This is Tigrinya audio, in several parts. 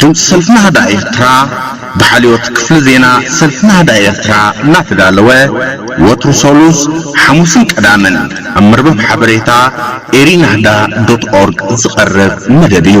ድምጺ ሰልፊ ናህዳ ኤርትራ ብሓልዮት ክፍሊ ዜና ሰልፊ ናህዳ ኤርትራ እናተዳለወ ወትሩ ሰሉስ፣ ሓሙስን ቀዳምን ኣብ መርበብ ሓበሬታ ኤሪናህዳ ዶት ኦርግ ዝቐርብ መደብ እዩ።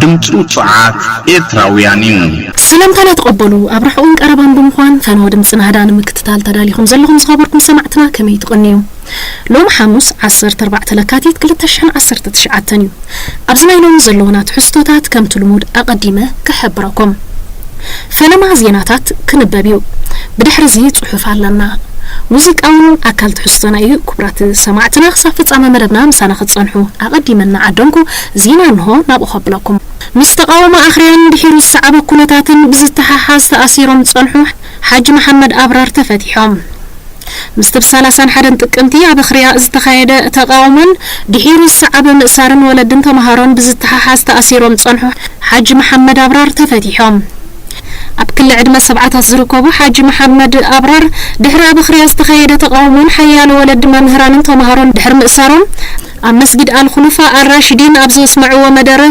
ድምጺ ውጹዓት ኤርትራውያን እዩ። ሰላምታ ናተቐበሉ ኣብ ርሑቕን ቀረባን ብምኳን ፈነወ ድምጺ ናህዳ ንምክትታል ተዳሊኹም ዘለኹም ዝኸበርኩም ሰማዕትና ከመይ ትቕንዩ። ሎሚ ሓሙስ ዓሰርተ ኣርባዕተ ለካቲት ክልተ ሽሕን ዓሰርተ ትሽዓተን እዩ። ኣብዚ ናይ ሎሚ ዘለዉና ትሕዝቶታት ከምቲ ልሙድ ኣቐዲመ ክሕብረኩም። ፈለማ ዜናታት ክንበብ እዩ። ብድሕሪ እዚ ጽሑፍ ኣለና። ሙዚቃ ውን ኣካል ትሕዝቶና እዩ። ክቡራት ሰማዕትና ክሳብ ፍጻመ መደብና ምሳና ክትጸንሑ ኣቐዲመ እናዓደምኩ ዜና እንሆ ናብኡ ከብለኩም። ምስ ተቓውሞ ኣኽርያን ድሒሩ ዝሰዓበ ኩነታትን ብዝተሓሓዝ ተኣሲሮም ዝጸንሑ ሓጂ መሓመድ ኣብራር ተፈቲሖም። ምስቲ ብ ሰላሳን ሓደን ጥቅምቲ ኣብ ኣኽርያ ዝተኻየደ ተቓውሞን ድሒሩ ዝሰዓበ ምእሳርን ወለድን ተመሃሮን ብዝተሓሓዝ ተኣሲሮም ዝጸንሑ ሓጂ መሓመድ ኣብራር ተፈቲሖም። ኣብ ክሊ ዕድመ ሰብዓታት ዝርከቡ ሓጂ መሓመድ ኣብራር ድሕሪ ኣብ ኣኽርያ ዝተኻየደ ተቓውሞን ሓያሎ ወለዲ መምህራንን ተመሃሮን ድሕሪ ምእሳሮም፣ ኣብ መስጊድ ኣልኹሉፋ ኣልራሺዲን ኣብ ዘስመዕዎ መደረ፣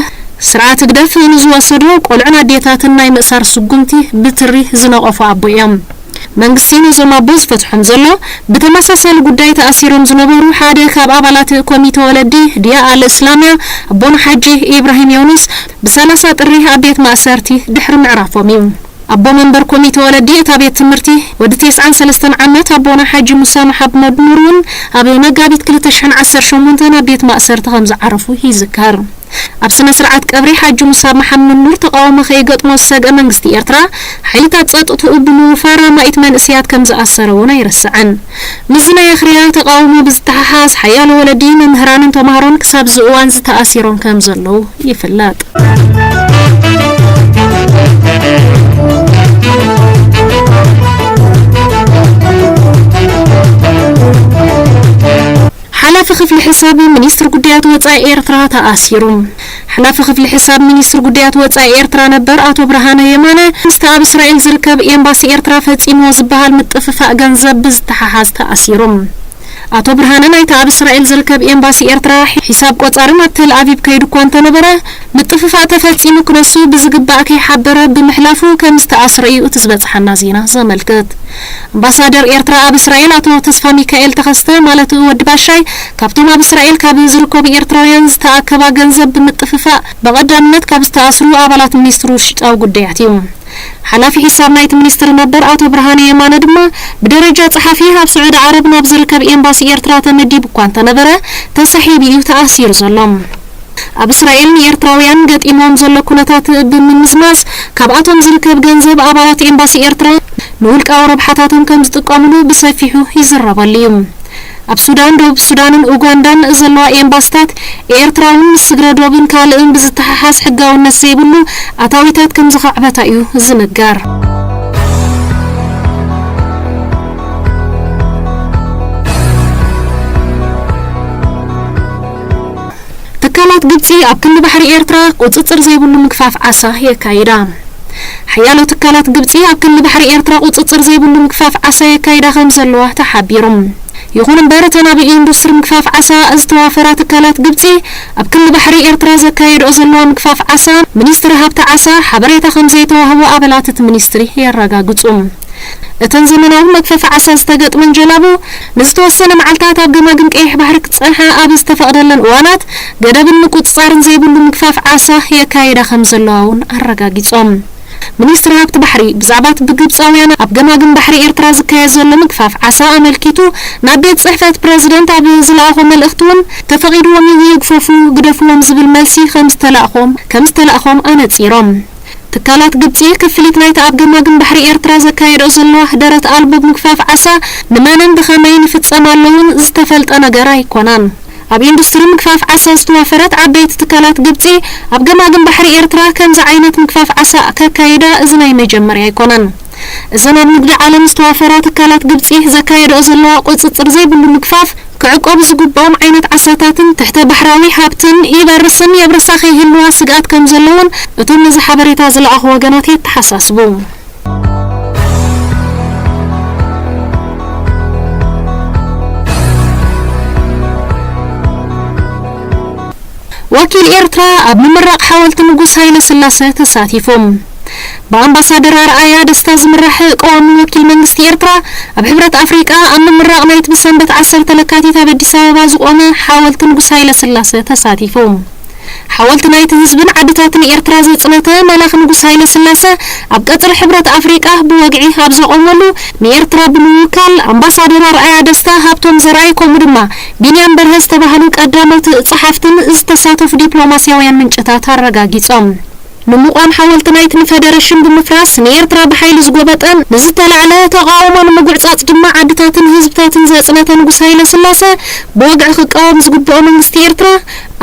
ስርዓት ህግደፍ ንዝወሰዶ ቆልዑን ኣዴታትን ናይ ምእሳር ስጉምቲ ብትሪ ዝነቐፉ ኣቦ እዮም። መንግስቲ ነዞም ኣቦ ዝፈትሖም ዘሎ፣ ብተመሳሳሊ ጉዳይ ተኣሲሮም ዝነበሩ ሓደ ካብ ኣባላት ኮሚተ ወለዲ ዲያእ ኣልእስላምያ ኣቦና ሓጂ ኢብራሂም ዮኑስ ብሰላሳ ጥሪ ኣብ ቤት ማእሰርቲ ድሕሪ ምዕራፎም እዩ። ኣቦ መንበር ኮሚተ ወለዲ እታ ቤት ትምህርቲ፣ ወዲ ቴስዓን ሰለስተን ዓመት ኣቦና ሓጂ ሙሳ መሓመድ ኑር እውን ኣብ መጋቢት ክልተ ሽሕን ዓሰርተ ሸሞንተን ኣብ ቤት ማእሰርቲ ከም ዝዓረፉ ይዝከር። ኣብ ስነ ስርዓት ቀብሪ ሓጂ ሙሳ መሓመድ ኑር ተቓውሞ ከይገጥሞ ዝሰግኣ መንግስቲ ኤርትራ፣ ሓይልታት ጸጥትኡ ብምውፋር ኣማኢት መንእሰያት ከም ዝኣሰረ እውን ኣይርሳዕን። ምስዚ ናይ ኣኽርያ ተቓውሞ ብዝተሓሓዝ ሓያሎ ወለዲ፣ መምህራንን ተማሃሮን ክሳብ እዚ እዋንዚ ተኣሲሮም ከም ዘለዉ ይፍለጥ። ሓላፊ ክፍሊ ሕሳብ ሚኒስትሪ ጉዳያት ወጻኢ ኤርትራ ተኣሲሩ። ሓላፊ ክፍሊ ሕሳብ ሚኒስትሪ ጉዳያት ወጻኢ ኤርትራ ነበር ኣቶ ብርሃነ የማነ፣ ምስቲ ኣብ እስራኤል ዝርከብ ኤምባሲ ኤርትራ ፈጺምዎ ዝበሃል ምጥፍፋእ ገንዘብ ብዝተሓሓዝ ተኣሲሩ። ኣቶ ብርሃነ ናይቲ ኣብ እስራኤል ዝርከብ ኤምባሲ ኤርትራ ሒሳብ ቆጻሪ ናብ ተልኣቪቭ ከይዱ'ኳ እንተነበረ፣ ምጥፍፋእ ተፈጺሙ ክነሱ ብዝግባእ ከይሓበረ ብምሕላፉ ከምዝተኣስረ'ዩ እቲ ዝበጽሓና ዜና ዘመልክት። ኣምባሳደር ኤርትራ ኣብ እስራኤል ኣቶ ተስፋሚካኤል ተኸስተ ማለት'ው ወዲ ባሻይ፣ ካብቶም ኣብ እስራኤል ካብ ዝርከቡ ኤርትራውያን ዝተኣከባ ገንዘብ ብምጥፍፋእ ብቐዳምነት ካብ ዝተኣስሩ ኣባላት ሚኒስትሪ ውሽጣዊ ጉዳያት እዩ። ሓላፊ ሒሳብ ናይቲ ሚኒስትሪ ነበር ኣቶ ብርሃነ የማነ ድማ ብደረጃ ጸሓፊ ኣብ ስዑዲ ዓረብ ናብ ዝርከብ ኤምባሲ ኤርትራ ተመዲቡ'ኳ እንተነበረ ተሳሒቡ'ዩ ተኣሲሩ ዘሎ። ኣብ እስራኤል ንኤርትራውያን ገጢምዎም ዘሎ ኩነታት ብምምዝማዝ ካብኣቶም ዝርከብ ገንዘብ ኣባላት ኤምባሲ ኤርትራ ንውልቃዊ ረብሓታቶም ከምዝጥቀምሉ ብሰፊሑ ይዝረበሉ እዩ። ኣብ ሱዳን፣ ደቡብ ሱዳንን ኡጋንዳን ዘለዋ ኤምባስታት ኤርትራ'ውን ምስ ስግረ ዶብን ካልእን ብዝተሓሓዝ ሕጋውነት ዘይብሉ ኣታዊታት ከምዘኻዕበታ እዩ ዝንገር። ትካላት ግብጺ ኣብ ክንዲ ባሕሪ ኤርትራ ቁጽጽር ዘይብሉ ምግፋፍ ዓሳ የካይዳ። ሓያሎ ትካላት ግብጺ ኣብ ክንዲ ባሕሪ ኤርትራ ቁጽጽር ዘይብሉ ምግፋፍ ዓሳ የካይዳ ከም ዘለዋ ተሓቢሩ። ይኹን እምበር እተን ኣብ ኢንዱስትሪ ምግፋፍ ዓሳ ዝተዋፈራ ትካላት ግብጺ ኣብ ክንዲ ባሕሪ ኤርትራ ዘካየድኦ ዘለዋ ምግፋፍ ዓሳ ሚኒስትሪ ሃብቲ ዓሳ ሓበሬታ ከም ዘይተዋህቦ ኣባላት እቲ ሚኒስትሪ የረጋግጹ። እተን ዘመናዊ መግፈፊ ዓሳ ዝተገጥመን ጀላቡ፣ ንዝተወሰነ መዓልታት ኣብ ገማግም ቀይሕ ባሕሪ ክጸንሓ ኣብ ዝተፈቕደለን እዋናት፣ ገደብን ምቁጽጻርን ዘይብሉ ምግፋፍ ዓሳ የካይዳ ከምዘለዋ'ውን ኣረጋጊጾም። ሚኒስትሪ ሃብቲ ባሕሪ፣ ብዛዕባ'ቲ ብግብጻውያን ኣብ ገማግም ባሕሪ ኤርትራ ዝካየድ ዘሎ ምግፋፍ ዓሳ ኣመልኪቱ ናብ ቤት ጽሕፈት ፕረዚደንት ኣብ ዝለኣኾ መልእኽቲ'ውን፣ ተፈቒድዎም'ዩ ይግፈፉ ግደፍዎም ዝብል መልሲ ከምዝተላእኮም ከምዝተላእኮም ኣነጺሮም። ትካላት ግብጺ፣ ክፍሊት ናይቲ ኣብ ገማግም ባሕሪ ኤርትራ ዘካየድኦ ዘለዋ ደረት ኣልቦ ምግፋፍ ዓሳ፣ ንመንን ብኸመይን ይፍጸም ኣሎ'ውን ዝተፈልጠ ነገር ኣይኮነን። ኣብ ኢንዱስትሪ ምግፋፍ ዓሳ ዝተዋፈረት ዓበይቲ ትካላት ግብጺ፣ ኣብ ገማግም ባሕሪ ኤርትራ ከምዚ ዓይነት ምግፋፍ ዓሳ ከካይዳ እዚ ናይ መጀመርያ ኣይኮነን። እዘን ኣብ ንግዲ ዓለም ዝተዋፈራ ትካላት ግብጺ ዘካየድኦ ዘለዋ ቁጽጽር ዘይብሉ ምግፋፍ ክዕቆቡ ዝግብኦም ዓይነት ዓሳታትን ትሕተ ባሕራዊ ሃብትን ይበርስን የብርሳ ከይህልዋ ስግኣት ከም ዘሎ እውን እቶም ነዚ ሓበሬታ ዝለኣኹ ወገናት የተሓሳስቡ። ወኪል ኤርትራ ኣብ ምምራቕ ሓወልቲ ንጉስ ሃይለስላሰ ተሳቲፉ። ብኣምባሳደር ኣርኣያ ደስታ ዝምራሕ ቀዋሚ ወኪል መንግስቲ ኤርትራ ኣብ ሕብረት ኣፍሪቃ ኣብ ምምራቕ ናይቲ ብሰንበት ዓሰርተ ለካቲት ኣብ ኣዲስ ኣበባ ዝቖመ ሓወልቲ ንጉስ ሃይለስላሰ ተሳቲፉ። ሓወልቲ ናይቲ ህዝብን ዓድታትን ኤርትራ ዘጽነተ መላኺ ንጉስ ሃይለስላሰ ኣብ ቀጽሪ ሕብረት ኣፍሪቃ ብወግዒ ኣብ ዘቖመሉ ንኤርትራ ብምውካል ኣምባሳደር ኣርኣያ ደስታ፣ ሃብቶም ዘርኣይ ከምኡ ድማ ቢንያም በርሀ ዝተባህሉ ቀዳሞት ጸሓፍትን ዝተሳተፉ ዲፕሎማስያውያን ምንጭታት ኣረጋጊጾም። ንምቛም ሓወልቲ ናይቲ ንፈደረሽን ብምፍራስ ንኤርትራ ብሓይሊ ዝጎበጠን ንዝተላዕለ ተቓውሞ ንምጉዕጻጽ ድማ ዓድታትን ህዝብታትን ዘጽነተ ንጉስ ሃይለስላሰ ብወግዒ ክቃወም ዝግብኦ መንግስቲ ኤርትራ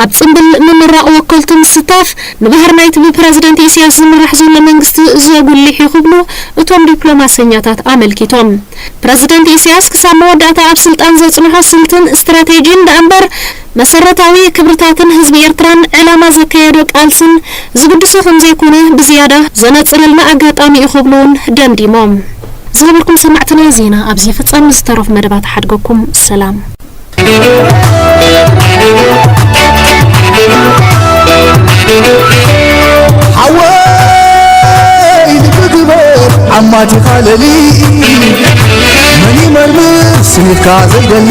ኣብ ጽምብል ምምራቕ ወከልቱ ምስታፍ ንባህሪ ናይቲ ብፕረዚደንት ኢሲያስ ዝምራሕ ዘሎ መንግስቲ ዘጉልሕ እዩ ክብሉ እቶም ዲፕሎማሰኛታት ኣመልኪቶም። ፕረዚደንት ኢሲያስ ክሳብ መወዳእታ ኣብ ስልጣን ዘጽንሖ ስልትን ስትራቴጂን ደኣምበር፣ መሰረታዊ ክብርታትን ህዝቢ ኤርትራን ዕላማ ዘካየዶ ቃልስን ዝግድሶ ከምዘይኮነ ብዝያዳ ዘነጽረልና ኣጋጣሚ'ዩ ክብሉ'ውን ደምዲሞም። ዝኸበርኩም ሰማዕትና ዜና ኣብዚ ይፍጸም ንዝተረፉ መደባት እሓድገኩም። ሰላም። ሓወይ ልቢ ግበር ዓማቲኻ ለሊ መን ይመርምር ስኒትካ ዘይደሊ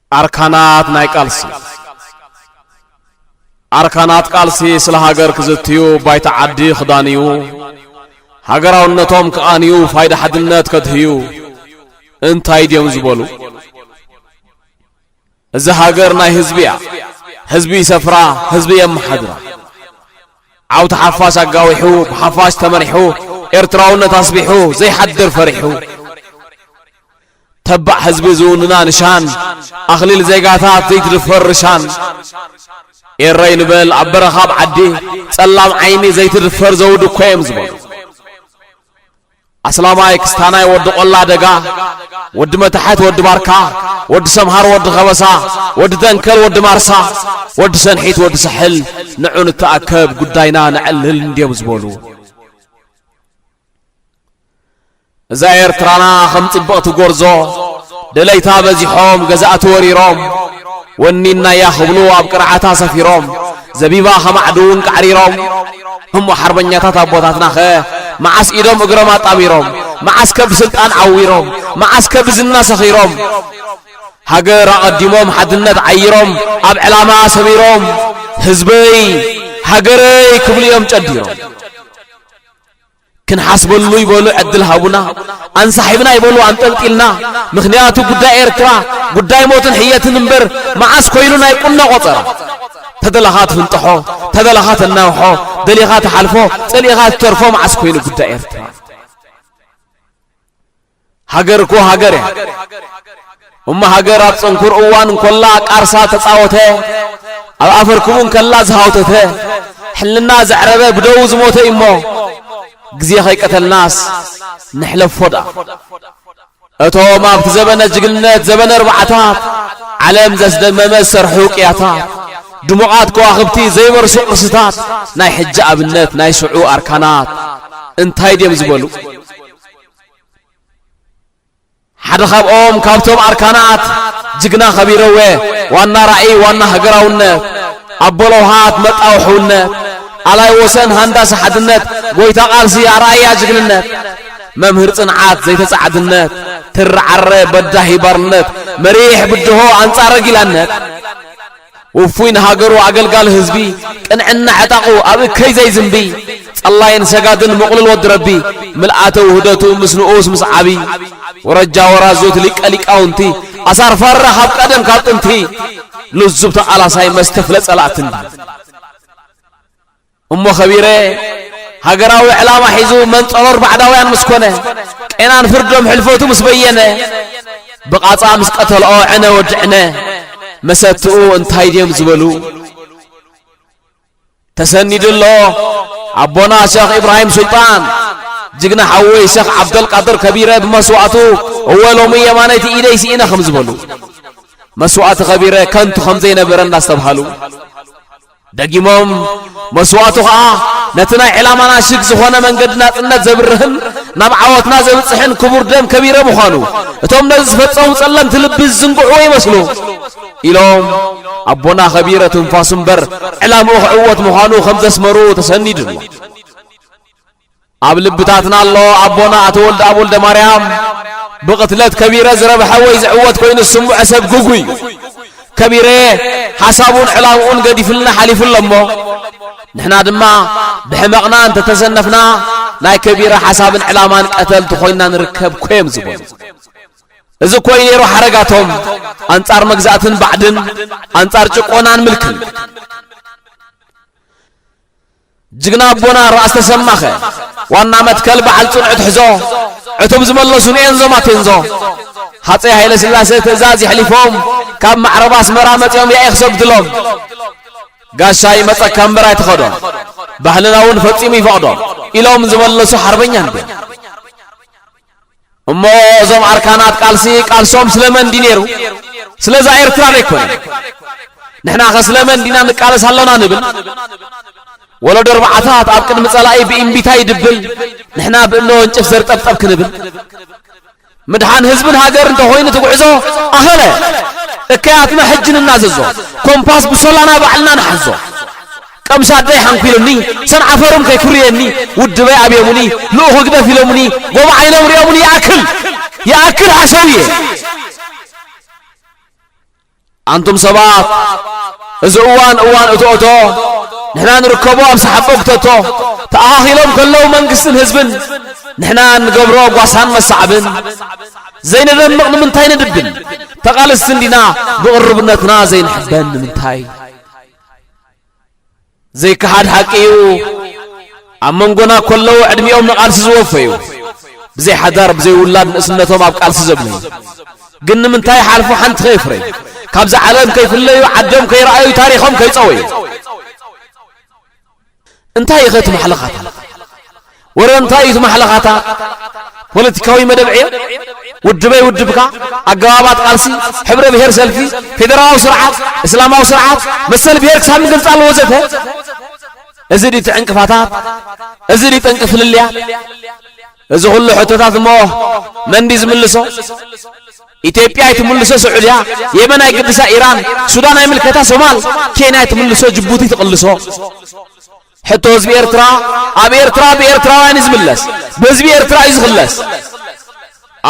ኣርካናት ናይ ቃልሲ ኣርካናት ቃልሲ ስለ ሃገር ክዝትዩ ባይታ ዓዲ ክዳንዩ ሃገራውነቶም ክቓንዩ ፋይዳ ሓድነት ከድህዩ እንታይ ድዮም ዝበሉ እዚ ሃገር ናይ ህዝቢ እያ ህዝቢ ይሰፍራ ህዝቢ የመሓድራ ዓውቲ ሓፋሽ ኣጋዊሑ ብሓፋሽ ተመሪሑ ኤርትራውነት ኣስቢሑ ዘይሓድር ፈሪሑ ተባዕ ህዝቢ ዝውንና ንሻን ኣኽሊል ዜጋታት ዘይትድፈር ርሻን ኤረይ ንበል ኣብ በረኻ ኣብ ዓዲ ጸላም ዓይኒ ዘይትድፈር ዘውዲ እኮ እዮም ዝበሉ ኣስላማይ ክስታናይ ወዲ ቆላ ደጋ ወዲ መታሕት ወዲ ባርካ ወዲ ሰምሃር ወዲ ከበሳ ወዲ ደንከል ወዲ ማርሳ ወዲ ሰንሒት ወዲ ሳሕል ንዑ ንተኣከብ ጉዳይና ነዕልል እንድዮም ዝበሉ እዛ ኤርትራና ከም ጽብቕቲ ጎርዞ ደለይታ በዚሖም ገዛእቲ ወሪሮም ወኒናያ ክብሉ ኣብ ቅርዓታ ሰፊሮም ዘቢባ ከማዕድውን ቃዕሪሮም እሞ ሓርበኛታት ኣቦታትናኸ መዓስ ኢዶም እግሮም ኣጣሚሮም መዓስ ከ ብስልጣን ዓዊሮም መዓስ ከ ብዝና ሰኺሮም ሃገር ኣቐዲሞም ሓድነት ዓይሮም ኣብ ዕላማ ሰሚሮም ህዝበይ ሃገረይ ክብሉ እዮም ጨዲሮም ክንሓስበሉ ይበሉ ዕድል ሃቡና ኣንሳሒብና ይበሉ ኣንጠልጢልና ምክንያቱ ጉዳይ ኤርትራ ጉዳይ ሞትን ሕየትን እምበር መዓስ ኮይኑ ናይ ቁኖ ቆፀራ ተደላኻ ትፍንጥሖ ተደላኻ ተናውሖ ደሊኻ ትሓልፎ ፀሊእኻ ትተርፎ መዓስ ኮይኑ ጉዳይ ኤርትራ ሃገር እኮ ሃገር እያ እሞ ሃገር ኣብ ጽንኩር እዋን እንኮላ ቃርሳ ተጻወተ ኣብ ኣፈርክቡ እንከላ ዝሃውተተ ሕልና ዘዕረበ ብደው ዝሞተ እዩሞ ግዜ ከይቀተልናስ ንሕለፎ ድኣ እቶም ኣብቲ ዘበነ ጅግንነት ዘበነ ኣርባዕታት ዓለም ዘስደመመ ዝሰርሑ ቅያታት ድሙቓት ከዋኽብቲ ዘይበርሱ ቅርስታት ናይ ሕጂ ኣብነት ናይ ሽዑ ኣርካናት እንታይ ድዮም ዝበሉ ሓደ ካብኦም ካብቶም ኣርካናት ጅግና ከቢረወ ዋና ራእይ ዋና ሃገራውነት ኣቦ ለውሃት መጣው ሕውነት ኣላይ ወሰን ሃንዳሲ ሓድነት ጎይታ ቃልሲ ኣርኣያ ጅግንነት መምህር ጽንዓት ዘይተጻዕድነት ትርዓረ በዳሂ ባርነት መሪሕ ብድሆ ኣንጻረ ጊላነት ውፉይ ንሃገሩ ኣገልጋሊ ህዝቢ ቅንዕና ዕጣቑ ኣብ እከይ ዘይዝንቢ ጸላይን ሰጋድን ምቕሉል ወዲ ረቢ ምልኣተ ውህደቱ ምስ ንኡስ ምስ ዓቢ ወረጃ ወራዙት ሊቀ ሊቃውንቲ ኣሳር ፋራ ካብ ቀደም ካብ ጥንቲ ልዙብ ተቓላሳይ መስተፍለ ጸላእትንዲ እሞ ከቢረ ሃገራዊ ዕላማ ሒዙ መንጸሮር ባዕዳውያን ምስ ኮነ ቄናን ፍርዶም ሕልፈቱ ምስ በየነ ብቓጻ ምስ ቀተልኦ ዕነ ወዲ ዕነ መሰትኡ እንታይ ድዮም ዝበሉ ተሰኒዱ ኣሎ ኣቦና ሸኽ ኢብራሂም ሱልጣን ጅግና ሓወይ ሸኽ ዓብደልቃድር ከቢረ ብመስዋእቱ እወ ሎሚ የማነይቲ ኢደይ ስኢነ ከም ዝበሉ መስዋእቲ ከቢረ ከንቱ ከም ዘይነበረ እንዳስተብሃሉ ደጊሞም መስዋእቱ ከኣ ነቲ ናይ ዕላማና ሽግ ዝኾነ መንገዲ ናጽነት ዘብርህን ናብ ዓወትና ዘብጽሕን ክቡር ደም ከቢረ ምዃኑ እቶም ነዚ ዝፈጸሙ ጸለምቲ ልቢ ዝዝንግዕዎ ይመስሉ ኢሎም ኣቦና ከቢረ ትንፋሱ እምበር ዕላምኡ ክዕወት ምዃኑ ከም ዘስመሩ ተሰኒዱ ኣሎ። ኣብ ልብታትና ኣሎ ኣቦና ኣቶ ወልደኣብ ወልደማርያም ብቕትለት ከቢረ ዝረብሐ ወይ ዝዕወት ኮይኑ ዝስምዖ ሰብ ግጉ እዩ ከቢረ ሓሳቡን ዕላምኡን ገዲፍልና ሓሊፉ ኣሎ እሞ ንሕና ድማ ብሕመቕና እንተተሰነፍና ናይ ከቢረ ሓሳብን ዕላማን ቀተልቲ ኮይንና ንርከብ ኮዮም ዝበሉ እዚ እኮ እዩ ነይሩ ሓረጋቶም ኣንጻር መግዛእትን ባዕድን ኣንጻር ጭቆናን ምልክን ጅግና ኣቦና ራእሲ ተሰማኸ ዋና መትከል በዓል ጽኑዕ ትሕዞ ዕቱብ ዝመለሱ ንኤንዞ ማቴንዞ ሃፀይ ሃይለ ስላሴ ትእዛዝ ይሕሊፎም ካብ ማዕረብ ኣስመራ መጺኦም ያኢ ክሰግድሎም ጋሻ ይመጸካ እምበር ኣይትኸዶም ባህልና እውን ፈጺሙ ይፈቕዶም ኢሎም ዝመለሱ ሓርበኛ እንድዮም እሞ እዞም ኣርካናት ቃልሲ ቃልሶም ስለመን ድዩ ነይሩ? ስለዛ ኤርትራ ዶ ኣይኮነን? ንሕናኸ ስለመን ዲና ንቃለስ ኣሎና ንብል? ወለዶ ኣርባዕታት ኣብ ቅድሚ ጸላኢ ብእምቢታ ይድብል፣ ንሕና ብእምነ ወንጭፍ ዘርጠብጠብ ክንብል? ምድሓን ህዝብን ሃገር እንተኾይኑ ትጉዕዞ ኣኸለ እከያትና ሕጂ ንናዘዞ ኮምፓስ ብሶላና ባዕልና ንሓዞ ቀምሽ ኣደይ ሓንኲሉኒ ሰንዓፈሩን ከይኩርየኒ ውድበይ ኣብዮሙኒ ልኡኽ ህግደፍ ኢሎሙኒ ጎቦ ዓይኖም ሪኦሙኒ ይኣክል ይኣክል ሓሸውየ ኣንቱም ሰባት እዚ እዋን እዋን እቶእቶ ንሕና ንርከቦ ኣብ ሰሓቦ ክተቶ ተኣኻኺሎም ከለዉ መንግስትን ህዝብን ንሕና ንገብሮ ጓሳን መሳዕብን ዘይነደምቕ ንምንታይ ንድብን ተቓልስቲ እንዲና ብቕርብነትና ዘይንሕበን ንምንታይ ዘይከሓድ ሓቂ እዩ ኣብ መንጎና ኮለዉ ዕድሚኦም ንቓልሲ ዝወፈዩ ብዘይ ሓዳር ብዘይ ውላድ ንእስነቶም ኣብ ቃልሲ ዘብለዩ ግን ንምንታይ ሓልፉ ሓንቲ ከይፍረዩ ካብዚ ዓለም ከይፍለዩ ዓዶም ከይረኣዩ ታሪኾም ከይፀወዩ እንታይ ኢኸ እቲ ማሕለኻታ ወረ እንታይ እዩ እቲ ማሕለኻታ? ፖለቲካዊ መደብ ዕዮ፣ ውድበይ ውድብካ፣ ኣገባባት ቃልሲ፣ ሕብረ ብሄር ሰልፊ፣ ፌደራላዊ ስርዓት፣ እስላማዊ ስርዓት፣ መሰል ብሄር ክሳብ ንገልጻሉ ወዘተ እዚ ድዩ እቲ ዕንቅፋታት? እዚ ድዩ ጠንቂ ፍልልያት? እዚ ኩሉ ሕቶታት እሞ መን ድዩ ዝምልሶ? ኢትዮጵያ ኣይትምልሶ ስዑድያ፣ የመን ኣይግድሳ ኢራን፣ ሱዳን ኣይምልከታ ሶማል፣ ኬንያ ኣይትምልሶ ጅቡቲ ትቕልሶ። ሕቶ ህዝቢ ኤርትራ ኣብ ኤርትራ ብኤርትራውያን እዩ ዝምለስ ብህዝቢ ኤርትራ እዩ ዝኽለስ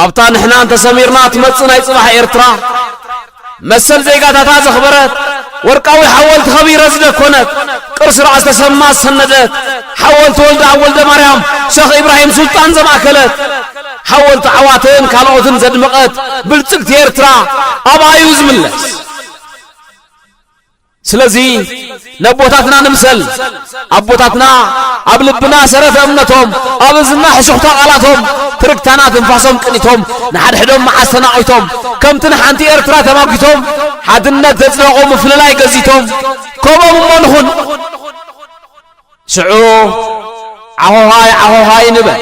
ኣብታ ንሕና እንተሰሚርና ትመጽእ ናይ ጽባሕ ኤርትራ መሰል ዜጋታታ ዘኽበረት ወርቃዊ ሓወልቲ ከቢረ ዝደኮነት ቅርሲ ራእስ ተሰማ ዝሰነደት ሓወልቲ ወልደ ኣብ ወልደ ማርያም ሸኽ ኢብራሂም ሱልጣን ዘማእከለት ሓወልቲ ዓዋተን ካልኦትን ዘድመቐት ብልጽግቲ ኤርትራ ኣብኣ እዩ ዝምለስ ስለዚ ነቦታትና ንምሰል ኣቦታትና ኣብ ልብና ሰረተ እምነቶም ኣብ እዝና ሕሹኽታ ቃላቶም ትርግታና ትንፋሶም ቅኒቶም ንሓድሕዶም መዓስ ተናቒቶም ከምቲ ንሓንቲ ኤርትራ ተማጒቶም ሓድነት ዘጽደቑ ምፍልላይ ገዚቶም ከምኦም እሞ ንኹን ሽዑ ዓሆሃይ ዓሆሃይ ንበል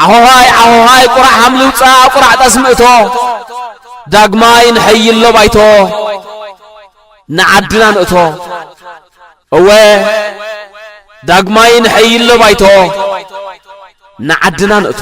ዓሆሃይ ዓሆሃይ ቁራዕ ሃምሊ ውፃእ ቁራዕ ጠስሚ እቶ ዳግማይ ንሐይሎ ባይቶ ንዓድና ንእቶ እወ ዳግማይ ንሐይሎ ባይቶ ንዓድና ንእቶ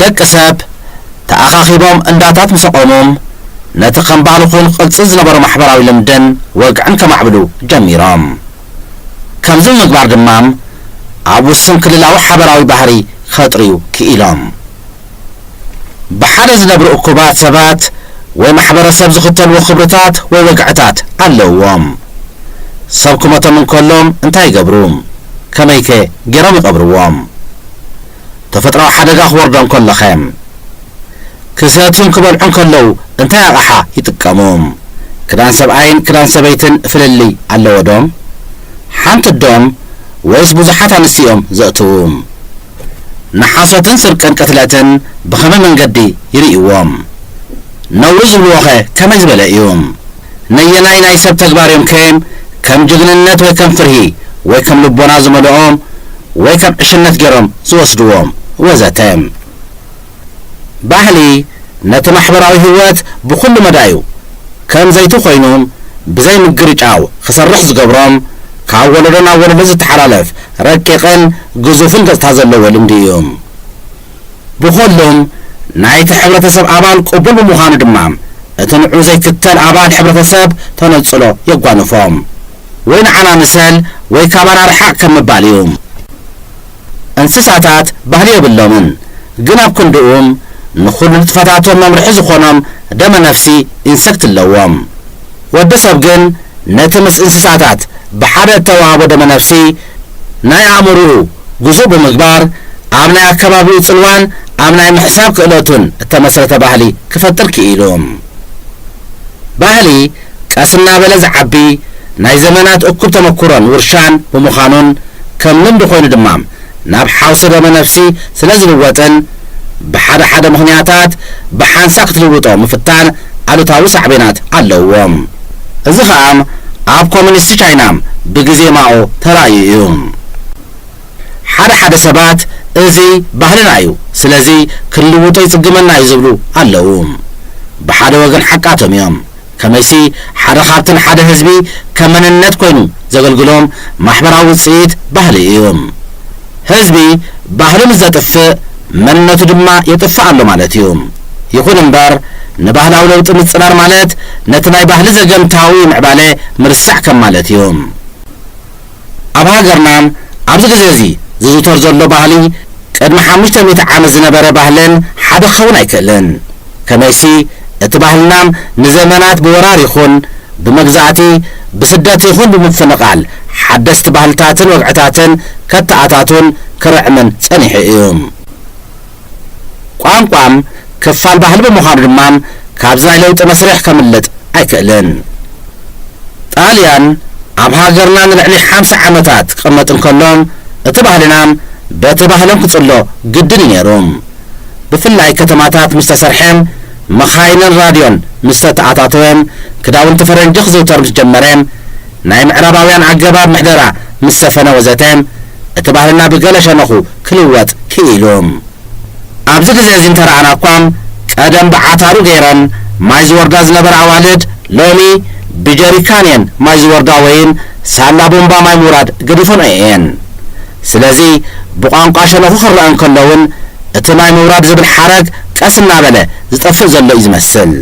ደቂ ሰብ ተኣኻኺቦም እንዳታት ምስ ኣቖሙ፣ ነቲ ከም ባህሊ ኩን ቅልጽል ዝነበሮ ማሕበራዊ ልምድን ወግዕን ከማዕብሉ ጀሚሮም። ከምዚ ብምግባር ድማ ኣብ ውሱን ክልላዊ ሓበራዊ ባህሪ ከጥርዩ ክኢሎም። ብሓደ ዝነብሩ እኩባት ሰባት ወይ ማሕበረሰብ ዝኽተልዎ ክብርታት ወይ ወግዕታት ኣለውዎም። ሰብ ክሞቶም እንከሎ እንታይ ይገብሩ? ከመይከ ገይሮም ይቐብርዎም? ተፈጥራዊ ሓደጋ ክወርዶም ከሎኸ? ክሰትዩን ክበልዑን ከለዉ እንታይ ኣቕሓ ይጥቀሙ? ክዳን ሰብኣይን ክዳን ሰበይትን ፍልልይ ኣለዎዶ? ሓንቲ'ዶም ወይስ ብዙሓት ኣንስቲ እዮም ዘእትዉ? ንሓሶትን ስርቅን ቅትለትን ብኸመይ መንገዲ ይርእይዎም? ነውሪ ዝብልዎኸ ከመይ ዝበለ እዩ? ነየናይ ናይ ሰብ ተግባር እዮም ከይም ከም ጅግንነት ወይ ከም ፍርሂ ወይ ከም ልቦና ዝመልኦም ወይ ከም ዕሽነት ገይሮም ዝወስድዎም ወዘተ። ባህሊ ነቲ ማሕበራዊ ህይወት ብኹሉ መዳዩ ከም ዘይቲ ኮይኑም ብዘይ ምግርጫው ክሰርሕ ዝገብሮም ካብ ወለዶ ናብ ወለዶ ዝተሓላለፍ ረቂቕን ግዙፍን ገጽታ ዘለዎ ልምዲ እዩም። ብኹሉም ናይቲ ሕብረተሰብ ኣባል ቅቡል ብምዃኑ ድማ እቲ ንዑ ዘይክተል ኣባል ሕብረተሰብ ተነጽሎ የጓንፎ። ወይ ንዓና ምሰል ወይ ካባና ርሓቕ ከም ምባል እዩ። እንስሳታት ባህሊ የብሎምን፣ ግን ኣብ ክንድኡ ንኹሉ ንጥፈታቶም መምርሒ ዝኾኖም ደመ-ነፍሲ፣ ኢንሰክት፣ ኣለዎም። ወዲ ሰብ ግን፣ ነቲ ምስ እንስሳታት ብሓደ እተዋህቦ ደመ-ነፍሲ ናይ ኣእምሮኡ ግዙእ ብምግባር፣ ኣብ ናይ ኣከባቢኡ ጽልዋን ኣብ ናይ ምሕሳብ ክእለቱን እተመስረተ ባህሊ ክፈጥር ክኢሉ። ባህሊ ቀስ እናበለ ዝዓቢ ናይ ዘመናት እኩብ ተመኩሮን ውርሻን ብምዃኑን ከም ልምዲ ኮይኑ ድማ ናብ ሓውሲ ደመ ነፍሲ ስለ ዝልወጥን ብሓደ ሓደ ምኽንያታት ብሓንሳእ ክትልውጦ ምፍታን ኣሉታዊ ሳዕቤናት ኣለውዎ። እዚ ኸኣ ኣብ ኮሚኒስት ቻይና ብግዜ ማኦ ተራእዩ እዩ። ሓደ ሓደ ሰባት እዚ ባህልና እዩ ስለዚ ክንልውጦ ይጽግመና እዩ ዝብሉ ኣለዉ። ብሓደ ወገን ሓቃቶም እዮም። ከመይሲ ሓደ ካብቲ ንሓደ ህዝቢ ከም መንነት ኮይኑ ዘገልግሎም ማሕበራዊ ውጽኢት ባህሊ እዩ። ህዝቢ ባህሉ ምስ ዘጥፍእ መንነቱ ድማ የጥፍእ ኣሎ ማለት እዩ። ይኹን እምበር ንባህላዊ ለውጢ ምጽራር ማለት ነቲ ናይ ባህሊ ዘገምታዊ ምዕባለ ምርሳዕ ከም ማለት እዩ። ኣብ ሃገርና ኣብዚ ግዜ እዚ ዝዝውተር ዘሎ ባህሊ ቅድሚ ሓሙሽተ ሚእቲ ዓመት ዝነበረ ባህልን ሓደ ክኸውን ኣይክእልን። ከመይሲ እቲ ባህልና ንዘመናት ብወራር ይኹን ብመግዛእቲ፣ ብስደት ይኹን ብምፍንቓል ሓደስቲ ባህልታትን ወግዕታትን ከተኣታቱን ክርዕምን ጸኒሑ እዩ። ቋንቋም ክፋል ባህሊ ብምዃኑ ድማ ካብዚ ናይ ለውጢ መስርሕ ከምልጥ ኣይክእልን። ጣልያን ኣብ ሃገርና ንልዕሊ ሓምሳ ዓመታት ክቕመጥ እንከሎ እቲ ባህልና በቲ ባህሎም ክጽሎ ግድን እዩ ነይሩ። ብፍላይ ከተማታት ምስ ተሰርሐ፣ መኻይንን ራድዮን ምስ ተተኣታተወ፣ ክዳውንቲ ፈረንጂ ክዝውተር ምስ ጀመረ፣ ናይ ምዕራባውያን ኣገባብ ምሕደራ ምስ ሰፈነ ወዘተ እቲ ባህልና ብገለ ሸነኹ ክልወጥ ክኢሉ። ኣብዚ ግዜ እዚ እንተረኣና እኳ ቀደም ብዓታሩ ገይረን ማይ ዝወርዳ ዝነበራ ኣዋልድ ሎሚ ብጀሪካን እየን ማይ ዝወርዳ ወይን ሳላ ቡንባ ማይ ምውራድ ገዲፈንኦ እየን። ስለዚ ብቋንቋ ሸነኹ ክረኣ እንከሎ እውን እቲ ማይ ምውራድ ዝብል ሓረግ ቀስ እናበለ ዝጠፍእ ዘሎ እዩ ዝመስል።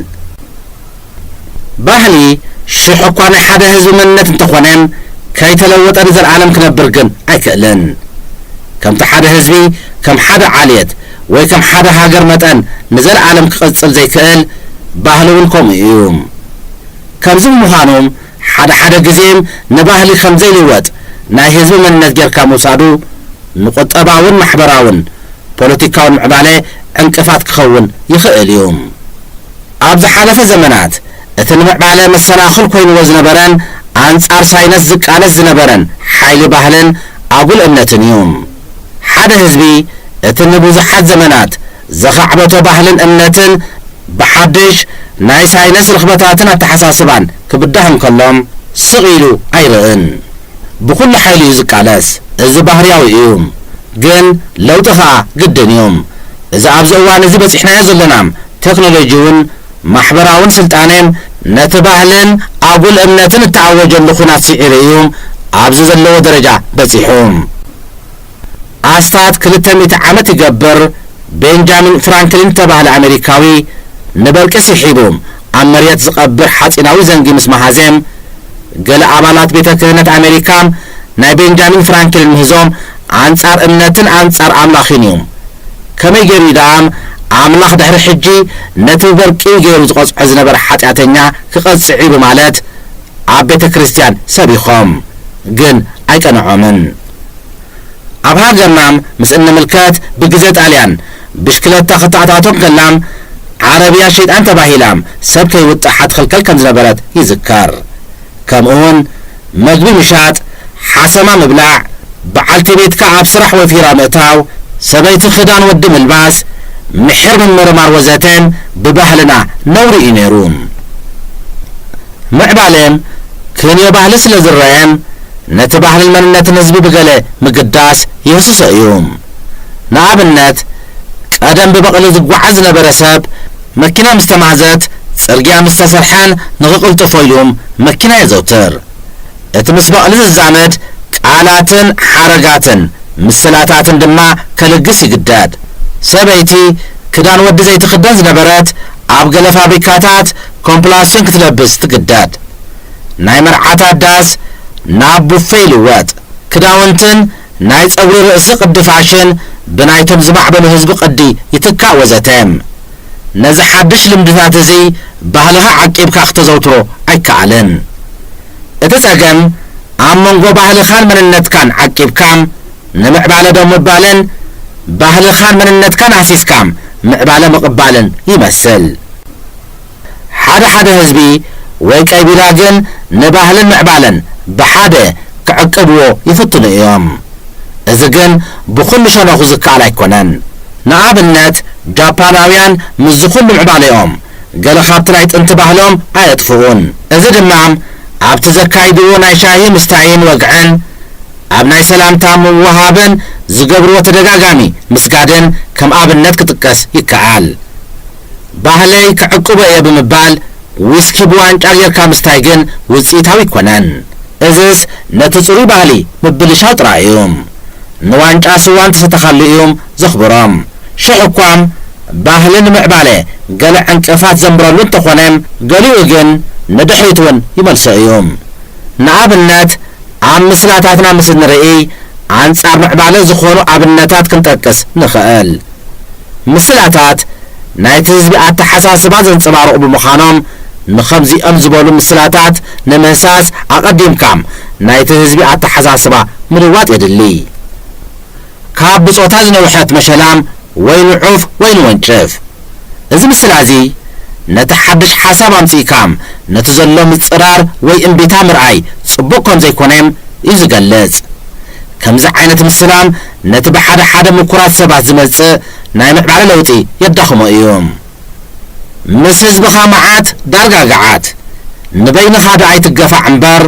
ባህሊ ሽሕ'ኳ ናይ ሓደ ህዝቢ መንነት እንተኾነ፣ ከይተለወጠ ንዘልኣለም ክነብር ግን ኣይክእልን። ከምቲ ሓደ ህዝቢ ከም ሓደ ዓሌት ወይ ከም ሓደ ሃገር መጠን ንዘልኣለም ክቕጽል ዘይክእል፣ ባህሊ'ውን ከምኡ'ዩ። ከምዚ ብምዃኑ ሓደ ሓደ ግዜ ንባህሊ ከም ዘይልወጥ ናይ ህዝቢ መንነት ጌርካ ምውሳዱ ንቁጠባውን ማሕበራውን ፖለቲካውን ምዕባለ ዕንቅፋት ክኸውን ይኽእል'ዩ። ኣብ ዝሓለፈ ዘመናት፣ እቲ ንምዕባለ መሰናኽል ኮይንዎ ዝነበረን ኣንጻር ሳይነስ ዝቃለስ ዝነበረን ሓይሊ ባህልን ኣጉል እምነትን እዩ። ሓደ ህዝቢ እቲ ንብዙሓት ዘመናት ዘኻዕበቶ ባህልን እምነትን ብሓድሽ ናይ ሳይነስ ርኽበታትን ኣተሓሳስባን ክብዳህ እንከሎ ስቕ ኢሉ ኣይርእን። ብኹሉ ሓይሉ እዩ ዝቃለስ። እዚ ባህርያዊ እዩ። ግን ለውጢ ከኣ ግድን እዩ። እዚ ኣብዚ እዋን እዚ በጺሕናዮ ዘሎና ተክኖሎጂውን ማሕበራውን ስልጣኔን ነቲ ባህልን ኣጉል እምነትን እተኣወጀሉ ኩናት ስዒሩ እዩ ኣብዚ ዘለዎ ደረጃ በጺሑ። ኣስታት ክልተ ሚእቲ ዓመት ይገብር ቤንጃሚን ፍራንክሊን እተባህለ ኣመሪካዊ ንበርቂ ስሒቡ ኣብ መርየት ዝቐብር ሓጺናዊ ዘንጊ ምስ መሃዘ፣ ገለ ኣባላት ቤተ ክህነት ኣመሪካ ናይ ቤንጃሚን ፍራንክሊን ምህዞ ኣንጻር እምነትን ኣንጻር ኣምላኽን እዩ። ከመይ ገይሩ እዩ ደኣ ኣምላኽ ድሕሪ ሕጂ ነቲ ብበርቂ ገይሩ ዝቐጽዖ ዝነበረ ሓጢኣተኛ ክቐጽዕ እዩ ብማለት ኣብ ቤተ ክርስትያን ሰቢኾም። ግን ኣይቀንዖምን። ኣብ ሃገርናም ምስ እንምልከት ብግዜ ጣልያን ብሽክለታ ክተኣታቶ እንከላም ዓረብያ ሸይጣን ተባሂላም ሰብ ከይውጥሓ ትኽልከል ከም ዝነበረት ይዝከር። ከምኡውን መግቢ ምሻጥ፣ ሓሰማ ምብላዕ፣ በዓልቲ ቤትካ ኣብ ስራሕ ወፊራ ምእታው፣ ሰበይቲ ክዳን ወዲ ምልባስ፣ ምሒር ምምርማር ወዘተን ብባህልና ነውሪ እዩ ነይሩ። ምዕባለ ክንዮ ባህሊ ስለ ዝረኣየን፣ ነቲ ባህልን መንነትን ህዝቢ ብገለ ምግዳስ ይህስሶ እዩ። ንኣብነት፣ ቀደም ብበቕሊ ዝጓዓዝ ዝነበረ ሰብ፣ መኪና ምስ ተማህዘት፣ ጽርግያ ምስ ተሰርሐን ንኽቕልጥፎ ኢሉ መኪና የዘውትር። እቲ ምስ በቕሊ ዝዛመድ ቃላትን ሓረጋትን ምስላታትን ድማ ከልግስ ይግደድ። ሰበይቲ ክዳን ወዲ ዘይትኽደን ዝነበረት፣ ኣብ ገለ ፋብሪካታት ኮምፕላስዮን ክትለብስ ትግደድ። ናይ መርዓታት ዳስ ናብ ቡፌ ይልወጥ፣ ክዳውንትን ናይ ጸጉሪ ርእሲ ቅዲ ፋሽን ብናይቶም ዝማዕበሉ ህዝቢ ቅዲ ይትካእ ወዘተ። ነዚ ሓድሽ ልምድታት እዚ ባህልኻ ዓቂብካ ክተዘውትሮ ኣይከኣልን። እቲ ጸገም ኣብ መንጎ ባህልኻን መንነትካን ዓቂብካ ንምዕባለ ዶ ምባልን ባህልኻን መንነትካን ሃሲስካ ምዕባለ ምቕባልን ይመስል። ሓደ ሓደ ህዝቢ ወይ ቀቢላ ግን ንባህልን ምዕባለን ብሓደ ክዕቅብዎ ይፍትኑ እዮም። እዚ ግን ብኹሉ ሸነኹ ዝከኣል ኣይኮነን። ንኣብነት ጃፓናውያን ምስዚ ኩሉ ምዕባሌኦም ገለ ካብቲ ናይ ጥንቲ ባህሎም ኣየጥፍኡን። እዚ ድማ ኣብቲ ዘካይድዎ ናይ ሻሂ ምስታይን ወግዕን፣ ኣብ ናይ ሰላምታ ምውህሃብን ዝገብርዎ ተደጋጋሚ ምስጋድን ከም ኣብነት ክጥቀስ ይከኣል። ባህለይ ክዕቅቦ እየ ብምባል ዊስኪ ብዋንጫ ጌርካ ምስታይ ግን ውጽኢታዊ ኣይኮነን። እዝስ ነቲ ጽሩይ ባህሊ ምብልሻው ጥራይ እዩ። ንዋንጫ ስዋ እንተሰተኻሉ እዩም ዘኽብሮም። ሽሕ'ኳም ባህሊ ንምዕባለ ገለ ዕንቅፋት ዘንብረሉ እንተኾነ ገሊኡ ግን ንድሕሪት እውን ይመልሶ እዩ። ንኣብነት ኣብ ምስላታትና ምስ እንርእይ ኣንጻር ምዕባለ ዝኾኑ ኣብነታት ክንጠቅስ ንኽእል። ምስላታት ናይቲ ህዝቢ ኣተሓሳስባ ዘንጸባርቑ ብምዃኖም፣ ንኸምዚኦም ዝበሉ ምስላታት ንምህሳስ ኣቐዲምካ ናይቲ ህዝቢ ኣተሓሳስባ ምልዋጥ የድሊ። ካብ ብጾታ ዝነውሐት መሸላም ወይ ንዑፍ ወይ ንወንጭፍ። እዚ ምስላ'ዚ ነቲ ሓድሽ ሓሳብ ኣምጺእካ ነቲ ዘሎ ምጽራር ወይ እምቢታ ምርኣይ ጽቡቕ ከምዘይኮነ'ዩ ዝገልጽ። ከምዚ ዓይነት ምስላም ነቲ ብሓደ ሓደ ምኩራት ሰባት ዝመጽእ ናይ ምዕባለ ለውጢ የዳኽሞ እዩ። ምስ ህዝብኻ መዓት ዳርጋ ገዓት። ንበይንኻ ዶ ኣይትገፋዕ እምበር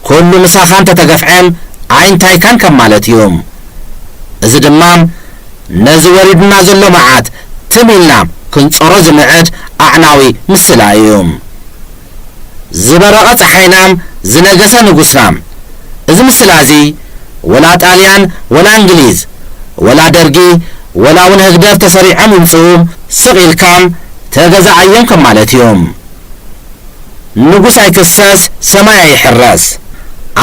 ኩሉ ምሳኻ እንተተገፍዔም ኣይንታይካን ከም ማለት እዩ። እዚ ድማ ነዚ ወሪዱና ዘሎ መዓት ትም ኢልና ክንጾሮ ዝምዕድ ኣዕናዊ ምስላ እዩ። ዝበረቐ ጸሓይናም ዝነገሰ ንጉስናም እዚ ምስላ እዚ ወላ ጣልያን ወላ እንግሊዝ ወላ ደርጊ ወላ ውን ህግደፍ ተሰሪዖም ይምጽኡ ስቕ ኢልካም ተገዛኣዮም ከም ማለት እዩ ንጉስ ኣይክሰስ ሰማይ ኣይሕረስ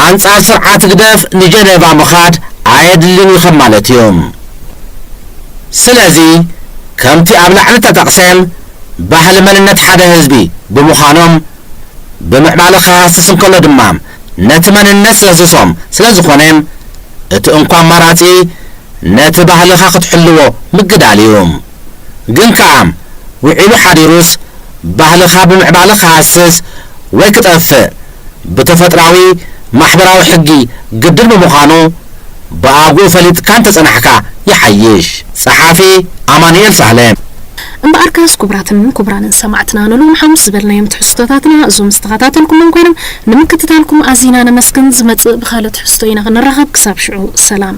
ኣንጻር ስርዓት ህግደፍ ንጀነቫ ምኻድ ኣየድልን እዩ ከም ማለት እዩ ስለዚ ከምቲ ኣብ ላዕሊ ተጠቕሰ ባህሊ መንነት ሓደ ህዝቢ ብምዃኖም ብምዕባለ ክሃስስ እንከሎ ድማ ነቲ መንነት ዘህስሶም ስለዝኾነ እቲ እንኮ ኣማራጺ ነቲ ባህልኻ ክትሕልዎ ምግዳል እዩ። ግን ከኣ ውዒሉ ሓዲሩስ ባህልኻ ብምዕባለ ክሃስስ ወይ ክጠፍእ ብተፈጥራዊ ማሕበራዊ ሕጊ ግድን ብምዃኑ ብኣግኡ ፈሊጥካ እንተጸናሕካ ይሓይሽ። ጸሓፊ፣ ኣማኑኤል ሳህለ። እምበኣርካስ ኩቡራትን ኩቡራንን ሰማዕትና ንሎሚ ሓሙስ ዝበልናዮም ትሕዝቶታትና እዞም ዝተኸታተልኩሞም ኮይኖም ንምክትታልኩም ኣዚና ነመስግን ዝመጽእ ብኻልእ ትሕዝቶ ኢና ክንራኸብ ክሳብ ሽዑ ሰላም